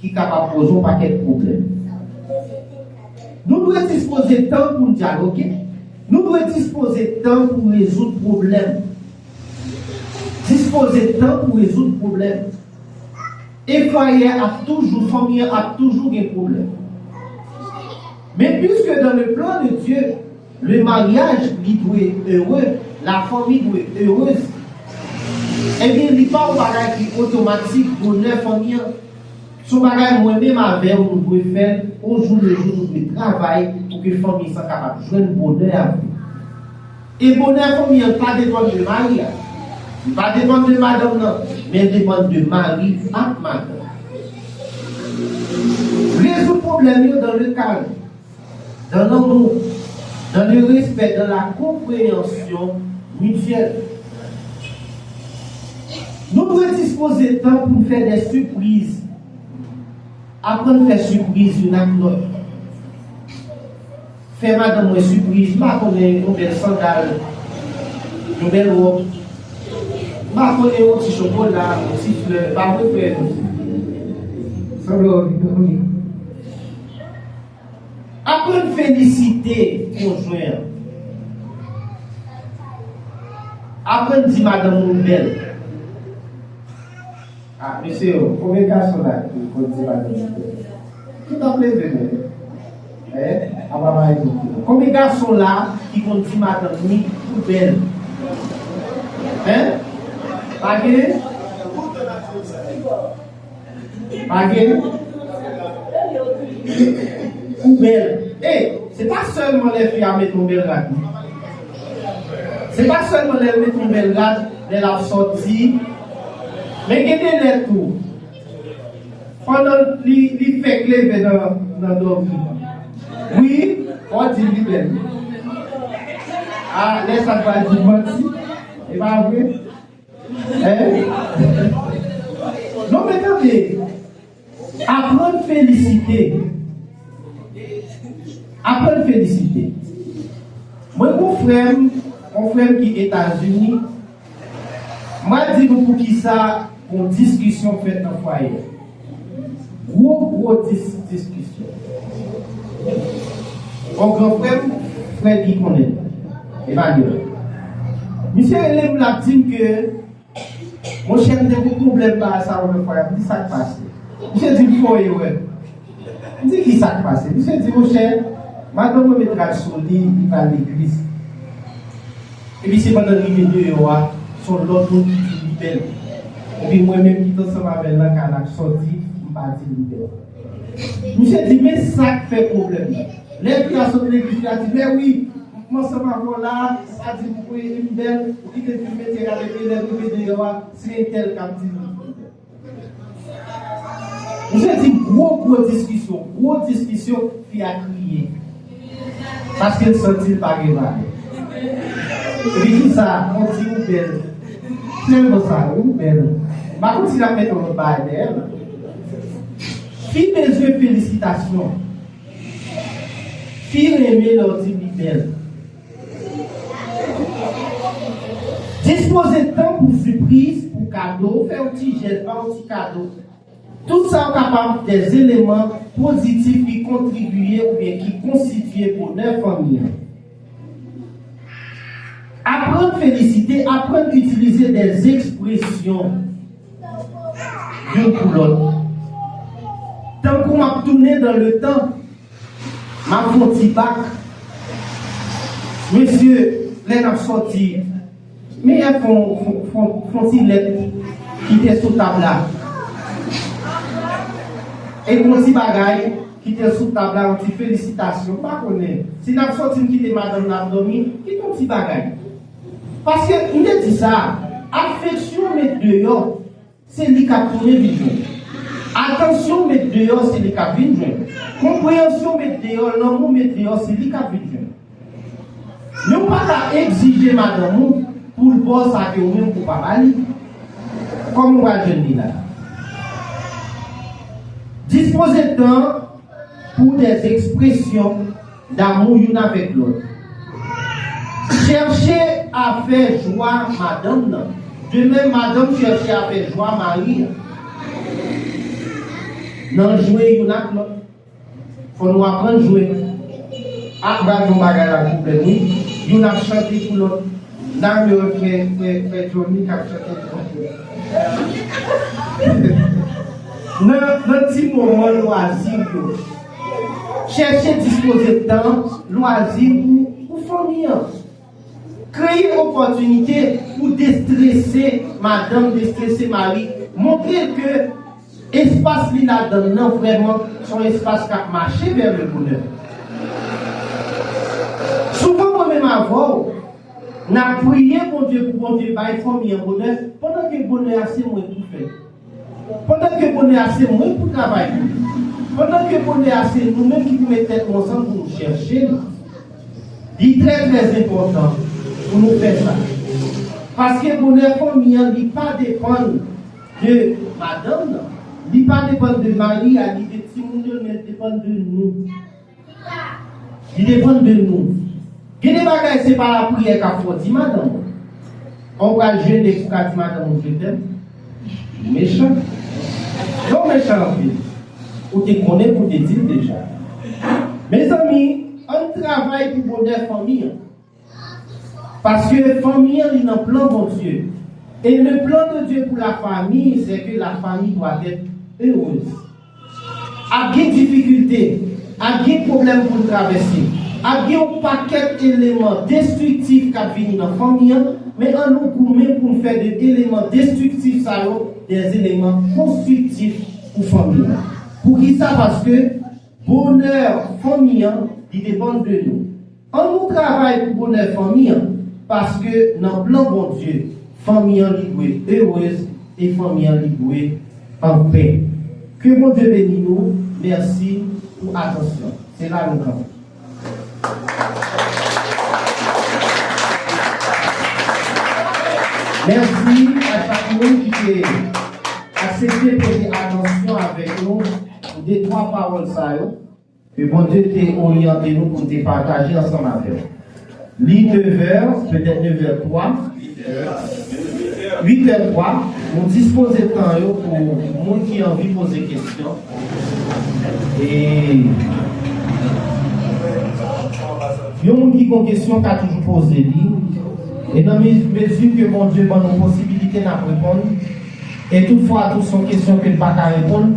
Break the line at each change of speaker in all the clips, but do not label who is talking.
ki kapab poze yon pakèt pwoblèm. Nou dwe dispoze tan pou n dyaloge, nou dwe dispoze tan pou rezoud pwoblèm. Dispoze tan pou rezoud pwoblèm. E fwaye a ap toujou, fanmi an ap toujou gen pwoblèm. Men, piske dans le plan de Dieu, Le mariage li dwe heureux, la fanmi dwe heureuse. Ebyen li pa yon bagay ki otomatik bonè fanmi an. Se yon bagay mwen menm avèw nou dwe fèl au jour le jour nou dwe travay pou ke fanmi sa kapab jwenn bonè a vre. E bonè fanmi an pa depann de mari a. Li pa depann de madanm nan, men depann de mari ak madanm. Rezoud pwoblèm yo dans le calme. Dan lanmou, dan le respè, dan la konpreyansyon mityèl. Nou dwe dispoze tan pou n fè de sipriz, aprann fè sipriz youn ak lòt. Fè madanm mwen sipriz, m pa konnen, yon bèl sandal, yon bèl wòb, m pa konnen, yon ti chokola, yon ti flè, ba mwen fè l. Sanble w ap vin granmoun. Aprann felisite konjwen an. Aprann di madanm ou bèl. Ah mesye yo konbyen gason la ki konn di madanm li bèl? Tout ap leve men yo. Eh apa mari nou pou nou. Konbyen gason la ki konn di madanm li ou bèl? Hein? Pa gen? Pa gen Ou bèl E se pa sèlman lè fi a met yon bèl rad non Se pa sèlman lè l met yon bèl rad lè l ap sòti Men gen de lè tou Pandan li fèk leve nan dòmi Wi Fò w di l li bèl A lè sa l pral di manti E pa vre Non men tande, aprann felisite, aprann felisite. Mwen gon frèm, gon frèm ki Etazini, mwen di nou poukisa gon diskisyon fèt nan fwaye. Gwo gwo dis diskisyon. Yon gran frè m, frè Guy konnen l. Emmanuel. Misye rele m l ap di m ke monchè m te gen pwoblèm ba sa yon lòt fwa y ap di sa k pase. Misye di m fò erè. M di ki sa k pase? Misye di monchè madanm mwen met rad sou li, li pa al legliz. Epi se pandan l rive deyò a, s on lòt moun ki di l li bèl. Epi mwen menm ki t ansanm avè l nan kay la m sòti, m pa di l li bèl. Misye di, men sa k fè pwoblèm nan. Lè fi a sot legliz li a di, mè wi, m t ansanm avè w la a, sa di m kwe li m bèl, ou kite fi m mete rad epi lè m rive deyò a, se entèl k ap di m li bèl. Misye di gwo gwo diskisyon gwo diskisyon fi a kriye paske l santi l pa gen valè epi kisa on ti ou bèl sèlman sa wi ou bèl m pa konn si l ap met on lòt bagay dèyè l fi bezwen felisitasyon fi renmen lè w di l li bèl. Dispoze tan pou sipriz, pou kado, fè yon ti jès, ba yon ti kado. Tout sa yo kapab de eleman pozitif ki kontribiye oubyen ki konstitye bonè fanmi an. Aprann felisite, aprann itilize de ekspresyon youn pou lòt. Tankou m ap tounen dan le tan. Map fon ti bak Mesye lè nap sòti Meyè fon fon ti lèt Kite sou tab la E fon ti bagay Kite sou tab la yon ti felisitasyon Mpa konnen si nap sòti m kite madanm nan ap dòmi Kite yon ti bagay Paske mte di sa Afeksyon met deyò Se li kap tounen vin jwenn. Atansyon w met deyò se li kap vin jwenn. Konpreyansyon w met deyò, lanmou w met deyò se li kap vin jwenn. Men w pa ka egzije madanm ou pou l ba w sa ke ou menm ou pa ba li. Kòman w pral jwenn li la a? Dispoze tan pou w dèzespresyon. Damou youn avèk lòt. Chèche a fè jwa madanm nan. De menm, madanm chèche a fè jwa mari a. Nan jwe youn ak lòt. Fò nou aprann jwe. A pral gen yon bagay la ki bèl wi. Youn ap chante pou lòt. Damou ap fè fè Jhonny k ap chante pou manzè. Nan ti moman lwazi yo. Chèche dispoze tan lwazi pou ou fanmi an. Kreye opòtinite pou destrese madanm, destrese mari. Montre l ke espas li ladan l lan vrèman s on espas k ap mache vè le bonè. Souvan mwen menm avè w n ap priye Bondye pou Bondye bay fanmi an bonè pandan ke bonè a se mwen ki fè l. Pandan ke bonè a se mwen pou travay pou li. Pandan ke bonè a se nou menm ki pou met tèt nou ansanm pou nou chèche li. Li trè trè enpòtan pou nou fè sa. Paske bonè fanmi an li pa depann de madanm nan, li pa depann de mari a ni de timoun yo men li depann de nou. Li depann de nou. Gen de bagay se pa lapriyè k ap fè w di madanm ou. An ou pral jene pou w ka di madanm ou je tèm? Ou mechan. Lè w mechan anpil, ou te konnen pou w te di l deja. Mezanmi, ann travay pou bonè fanmi an. Paske fanmi an li nan plan Bondye. E le plan de Dye pou la fami se ke la fami dwa tèt erez. Ap gen difikilte, ap gen pwoblèm pou n travèse, ap gen yon pakèt eleman destriktif k ap vini nan fanmi an, men an nou goumen pou n fè de eleman destriktif sa yo de eleman konstriktif pou fanmi an. Poukisa? Paske bonè fanmi an li depann de nou. An nou travay pou bonè fanmi an, paske nan plan Bondye, fanmi an li dwe erez e fanmi an li dwe anpè. Ke Bondye beni nou, mèsi pou atansyon. Se la nou kanpe. Mèsi a chak moun ki te aksepte prete atansyon avèk nou pou detwa pawòl sa yo. Ke Bondye te oryante nou pou n te pataje ansanm avè w. Li nevè, petèt nevè twa, uitè twa, nou dispoze tan yo pou moun ki anvi poze kesyon e yon moun ki gon kesyon ka toujou poze li e nan mezi ke Bondye ban nou posibilite n ap reponn e tout fwa tou son kesyon ke n pa ka reponn.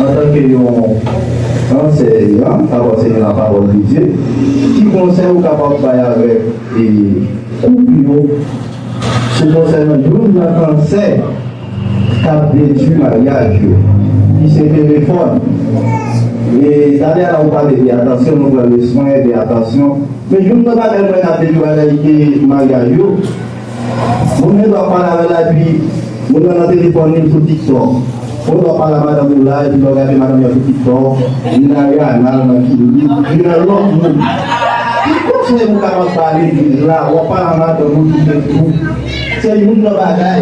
Antanke yon ansèyan k ap anseye lapawòl de Dye, ki konsèy ou kapab bay avèk koup yo sou konsènan youn nan kansè k ap detui maryaj yo, ki se telefòn? E talè a ou pale de atansyon, nou pran lè swen de atansyon, men youn nan bagay mwen ka detui bagay maryaj yo, Moun gen dwa pale avè l epi moun nan nan telefòn li sou tiktok Moun dwa pale a madanm ou la epi lè w gade madanm nan sou tiktok li nan Rihanna l nan Kim li nan lòt moun Ki konsèy ou kapab ba legliz la wap pale a madanm ou sou facebook Se youn nan bagay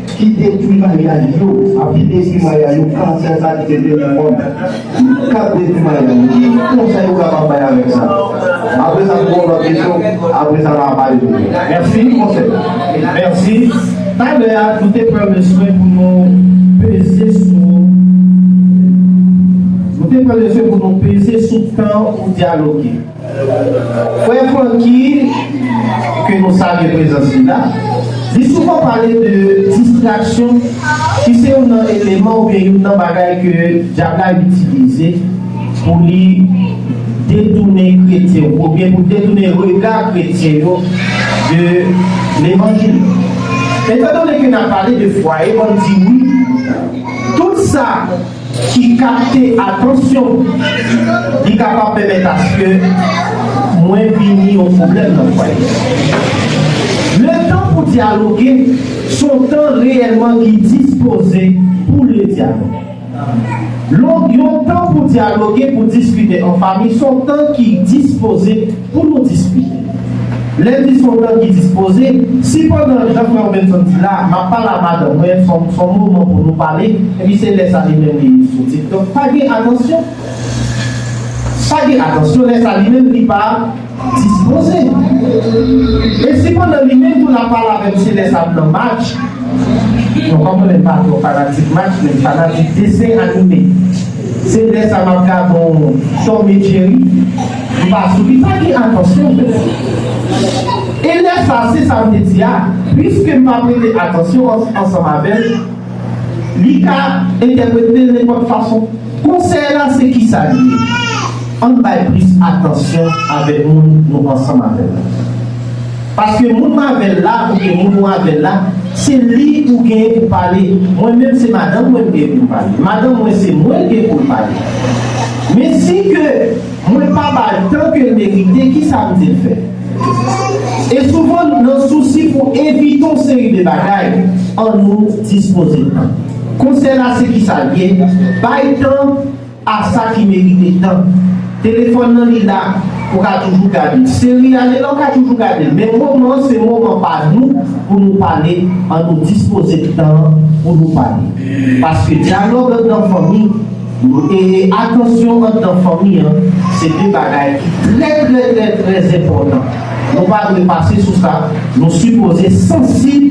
Ki detwi maya yo api detwi maya yo kansè sa ki te vle nan mond ki kap detwi maya yo ki konsèy ou kapab bay avèk sa apre sa m gen yon lòt kesyon apre sa ma pale pou mwen mèsi konsèy mèsi
talè a nou te pran leswen pou nou peze sou nou te pran leswen pou nou peze sou tan ou dyaloge. Frè Francky, ke nou salye prezans li la, li souvan pale de distraksyon ki se youn nan eleman oubyen youn nan bagay ke Dyab la itilize pou li detounen kretyen yo, oubyen pou detounen rega kretyen yo de levanjil. Etandone ke n ap pale de fwaye, m ap di wi, tout sa. ki kapte atansyon li kapab pèmèt aske mwen vini yon pwoblèm nan fwaye a. Le tan pou dyaloge se yon tan reyèlman ki dispoze pou le dyaloge. Yon tan pou dyaloge, pou diskite an fami se yon tan ki dispoze. Pou nou diskite. Lè di son tan ki dispoze, si pandan jan frè Robenson di la, map pale a madanm mwen, son son moman pou nou pale, epi se lè sa li menm li sou tiktok, pa gen atansyon. Pa gen atansyon lè sa li menm li pa dispoze. E si pandan li menm tou lap pale avèm se lè sa m nan match, bon kòm mwen menm pa twò fanatik match men m fanatik desen anime. Se lè sa map gade w chòmye cheri m pa sou ki ta gen atansyon m pou ou e lè sa se sa m te di a pwiske m pa prete atansyon ansanm avè l li ka entèprete l nenpòt fason konsèy la se kisa li ye ann bay plis atansyon avèk moun nou ansanm avè l la. Paske moun m avèl la oubyen moun ou avèl la se li ou genyen pou pale mwen menm se madanm mwen m genyen pou m pale madanm mwen se mwen l genyen pou l pale men si ke mwen pa ba l tan ke l merite kisa m di l fè e souvan nan sousi pou evite yon seri de bagay an nou dispoze tan konsèy la se kisa l ye bay tan. Ah sa ki merite tan. Telefòn nan li la ou ka toujou gadel. Seri a li la ou ka toujou gadel. Men moman an se moman pa nou pou nou pale an nou dispoze tan an pou nou pale. Paske dyalòg anndan fanmi e atansyon anndan fanmi an se 2 bagay ki trè trè trè trè enpòtan. Nou pa dwe pase sou sa, nou sipoze sansib.